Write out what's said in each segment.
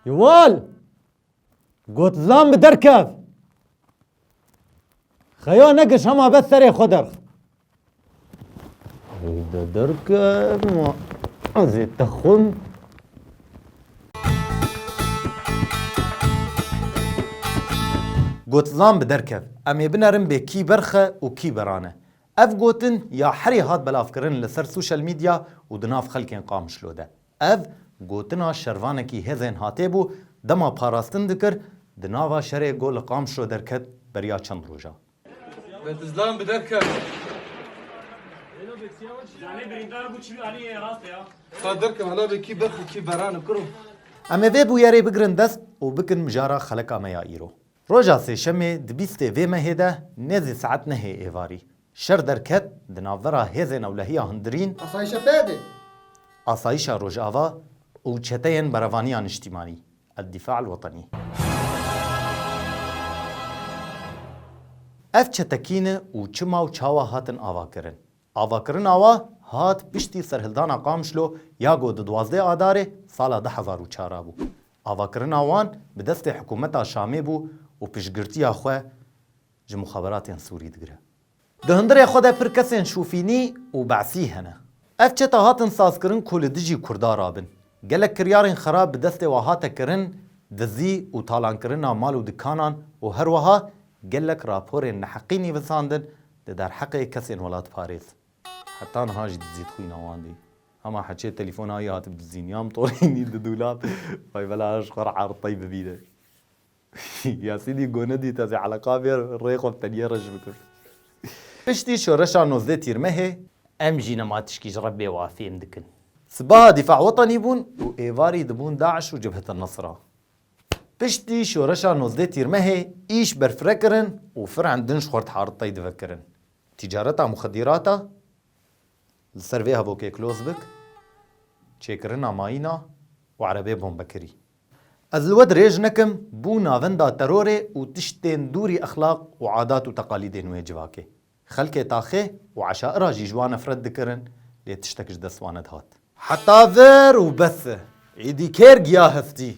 Yuval got lan bi derkev. Xeya nekiş hema be serê xwe derx. De derkev ma ez ê te xwim. Got lan bi derkev. Em ê binerin bê kî berxe û kî berane. Ev gotin ya herî hat belavkirin li ser social media û di nav xelkên Qamişlo de. Ev gotina şervanekî hêzên hatê bû, dema parastin dikir, di nava şerê got li Qamişlo derket beriya çend rojan. Em ê vê bûyerê bigirin dest û bikin mijara xeleka me ya îro. Roja sêşemê di bîstê vê mehê de nêzî saet nehê êvarî şer derket di navbera hêzên ewlehiya hundirîn, Asayîşa PYD, Asayîşa Rojava û çeteyên Berevaniya Niştîmanî, Eddîfa Elwetenî. Ev çete kî ne û çima û çawa hatin avakirin? Avakirina wa hat piştî serhildana Qamişlo ya ku di duwazdeh Adarê sala du hezar û çar a bû. Avakirina wan bi destê hikûmeta Şamê bû û piştgirtiya xwe ji muxaberatên Sûrî digire. Di hundirê xwe de pir kesên Şûfînî û Be'sî hene. Ev çete hatin sazkirin ku li dijî Kurda rabin. Gelek kiryarên xerab bi destê wan hate kirin, dizî û talankirina mal û dikanan û herweha gelek raporên neheqî nîvisandin di derheqê kesên welatparêz. Heta niha jî dizî dixwîna wan dî. Hema heçê telîfona wî hatib dizîn ya mitolînî di dûlab Vay bela ji xwe re erd tey bibîne. Yasînî goni dît ez ê eleqa bê rê xwe bi teniyê reş bikim. Piştî şoreşa nozdeh Tîrmehê. Em jî nema tişkî ji Rebbê wa fêm dikin. Sipaha Dîfa Wetenî bûn û êvarî dibûn DAIŞ û Cebhet El Nusra. Piştî şoreşa nozdeh Tîrmehê îş berfire kirin û firend din ji xwe re erd tey divekirin. Tîcareta muxedîrata li ser vê hevokê kloz bik, çêkirina mayîna û erebê bombekirî. Ez li we dirêj nekim bû navenda terorê û tiştên dûrî exlaq û adat û teqalîdên wê civakê. Xelkê taxê û eşaira jî ji wan nefret dikirin lê tiştek ji dest wan nedihat. Heta vir û bes e. Êdî kêr giya hestî.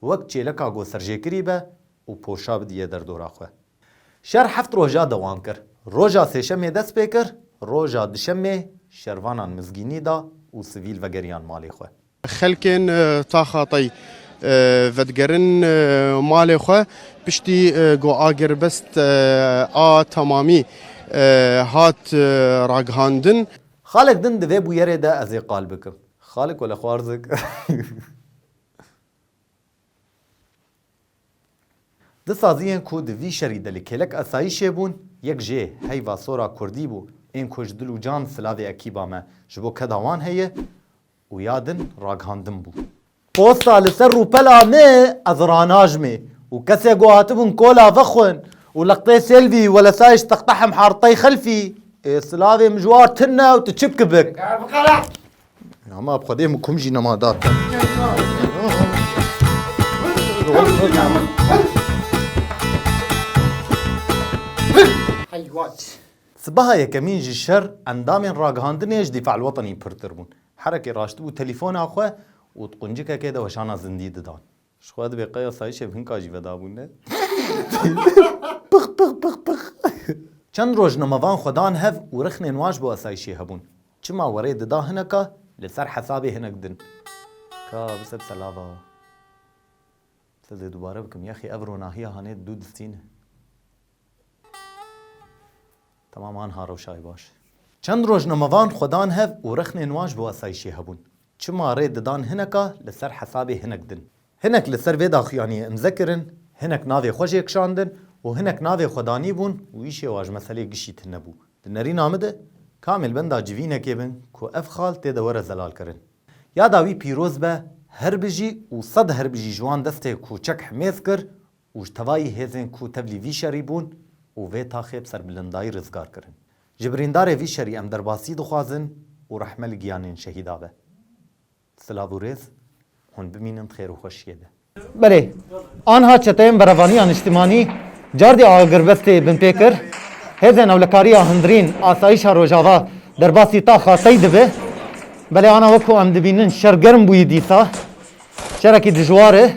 Wek çêleka ku serjêkirî be û poşa bidiye derdora xwe. Şer heft roja dewam kir. Roja sêşemê dest pê kir, roja duşemê şervanan mizgînî da û sivîl vegeriyan malê xwe. Xelkên taxa tey vedigerin malê xwe. Piştî ku agirbest a temamî hat ragihandin. Xalek din di vê bûyerê de ez ê qal bikim. Xalek wele xwarzik. Di saziyên ku di vî şerî de li kêlek asayîşê bûn, yek jê heyva sora kurdî bû, ên ku ji dil û can silavê ekîba me ji bo keda wan heye û ya din ragihandin bû. Posta li ser rûpela me ez ranajmê û kesê ku hatibûn kola vexwin û lextê Sêlvî we li sayiş textehim hartey xelfî, ê silavê mijwar tune û tu çi bikibik? Nama ab xwedê min kum jî nama dar. Heyhat. Sibaha yekemîn ji şer endamên ragihandinê ji Dîfal Wetenî pirtir bûn. Herekê raştibû telîfona xwe û di quncikekê de weşana zindî didan. Ji xwe divê qey asayîşê bi hinka jî ve dabûne. Pix pix pix pix. Çend roj nemevan xwe dan hev û rixnên wan ji bo asayîşê hebûn. Çima werê dida hineka li ser hesabê hinek din. Ka bise bise lava. Bise dê dubare bikim. Yexî ev ronahiya hanê dû distîne. Tamam anha rewşayê baş. Çend rojnamevan xwe dan hev û rexnên wan ji bo asayîşê hebûn. Çima rê didan hineka li ser hesabê hinek din. Hinek li ser vê daxuyaniyê imze kirin, hinek navê xwe jê kişandin û hinek navê xwe danîbûn û îşê wan ji meselê gişî tune bû. Di nerîna min de kamê li benda civînekê bin ku ev xal tê de were zelalkirin. Yada wî pîroz be, herbijî û sed herbijî ji wan destê Koçek Himêz kir û ji tevayî hêzên ku tevlî vî şerî bûn û vê taxê bi serbilindayî rizgar kirin. Ji birîndarê vî şerî em derbasî dixwazin û rehme li giyanên şehîda be. Silav û rêz, hûn bimînin di xêr û xweşiyê de. Belê, anha çeteyên Berevaniya Niştimanî cardê agirbestê binpê kir, hêzên ewlekariya hundirîn asayîşa Rojava derbasî taxa tey dibe. Belê ana wek ku em dibînin şer germ bûyî dîsa, şerekî dijwar e.